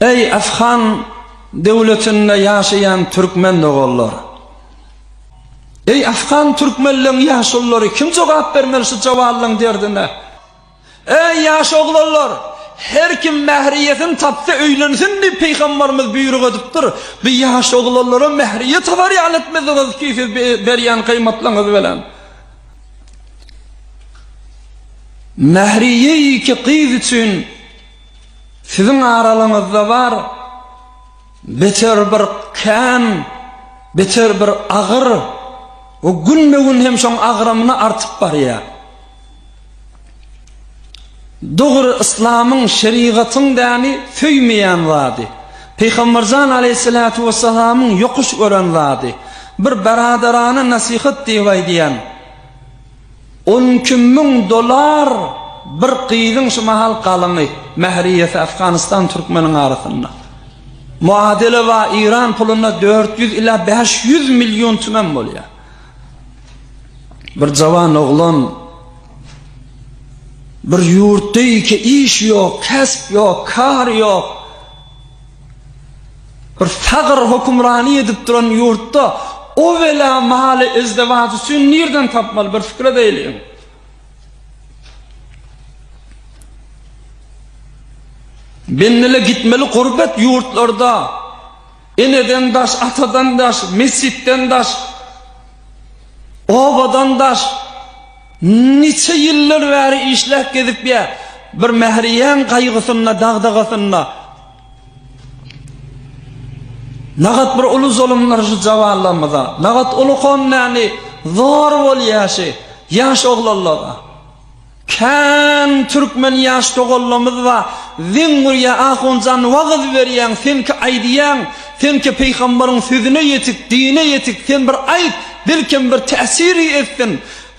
Eý Afgan döwletinde ýaşaýan türkmen doganlar. Eý Afgan türkmenleň ýaşulylary kim jogap bermeli şu jawallaň derdine. Eý ýaş oglanlar her kim mähriýetin tapsa öýlensin diýip pygambarymyz buýruk edipdir. Bu ýaş oglanlara mähriýet habarýan etmediňiz ki siz berýän gyýmatlaňyz bilen. Mähriýe iki gyz üçin Siziň aralyňyzda bar beter bir kän, beter bir agyr we günbe-gün hem şoň agramyny artyp barýar. Dogry yslamyň, şerigatyň däni söýmeýän zady. Pygamberjan aleyhissalatu vesselamyň yokuş gören zady. Bir beradarana nasihat diýip aýdýan. On iki müň dollar bir gyzyň şu mahal galyňy, mähriýesi Afganistan türkmeniň arasynda. Muadili ba Iran puluna dört ýüz ila bäş ýüz million tümen bolýar. Bir jawan oglan bir ýurtda iki iş ýok, kesp ýok, kar ýok. Bir tagyr hokumrany edip duran ýurtda o wela maly ezdewaç üçin nirden tapmaly bir fikir edeyliň. Bennele gitmeli gurbet ýurtlarda eneden daş, atadan daş, mesjitden daş, obadan daş, niçe ýyllar bäri işläp gezip ýa, bir mähriýen gaýgysynda, dagdagasynda, Nagat bir uly zulumlar şu cawanlarymyza, nagat uly honnäni zor bolýaşy ýaş oglanlara. Kän türkmen ýaş togollamyz ba, zeň urýa ahunjan wagyz berýäň, sen ki aýdýaň, sen ki peýgambaryň sözüne ýetik, dine ýetik, sen bir aýt, belkem bir täsiri etsin.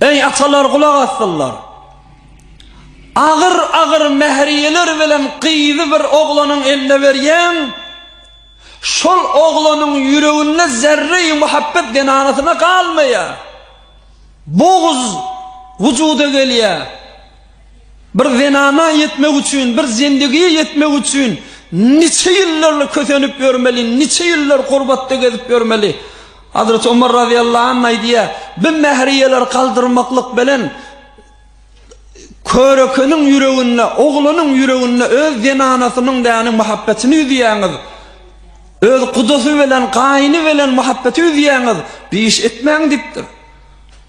Eý atalar gulak asdylar. Agyr agyr mähriýeler bilen gyzy bir oglanyň eline berýän. Şol oglanyň ýüreginde zerreýi muhabbet zenanasyna galmaýar. Boguz wujuda gelýär. Bir zenana ýetmek üçin, bir zendigiýe ýetmek üçin niçe ýyllarly kösenip ýörmeli, niçe ýyllar gurbatda gezip ýörmeli? Hazreti Omar razyýallahu anh aýdýar, Bi mähriýeler galdyrmaklyk bilen körekeniň ýüreginde, oglanyň ýüreginde öz zenanasynyň däniň muhabbetini üzýäňiz. Öz gudasy bilen, gaýyny bilen muhabbeti üzýäňiz. Bi iş etmäň diýipdir.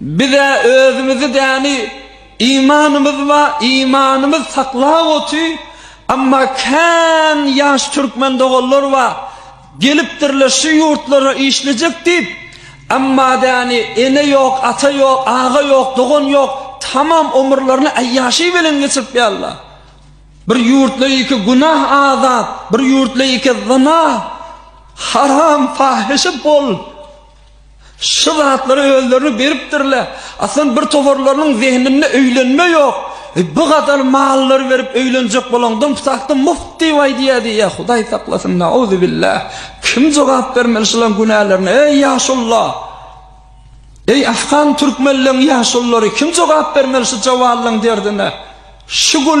Biz-ä özümizi däni imanymyz ba imanymyz saklap oty, amma kän ýaş türkmen doganlar ba gelipdirler şu ýurtlara işlejek diýip, amma däni ene ýok, ata ýok, aga ýok, dogan ýok, tamam omurlaryny aýýaşy belen geçirip ýalla. Bir ýurtla iki günah azat, bir ýurtla iki zina, haram, fahyşa bol. Şu zatlary özlerini beripdirler. Aslan bir toparlarynyň zehninde öýlenme ýok. E, bu gadar mallary berip öýlenjek bolaňdan putakda muft diýip aýdýardy. Ýa Hudaý saklasyn, nauzu billah. Kim jogap bermeli şularyň günälerine? Eý ýaşullar! Eý afgan türkmenleriň ýaşullary, kim jogap bermeli şu jawallaryň derdine? Şu gün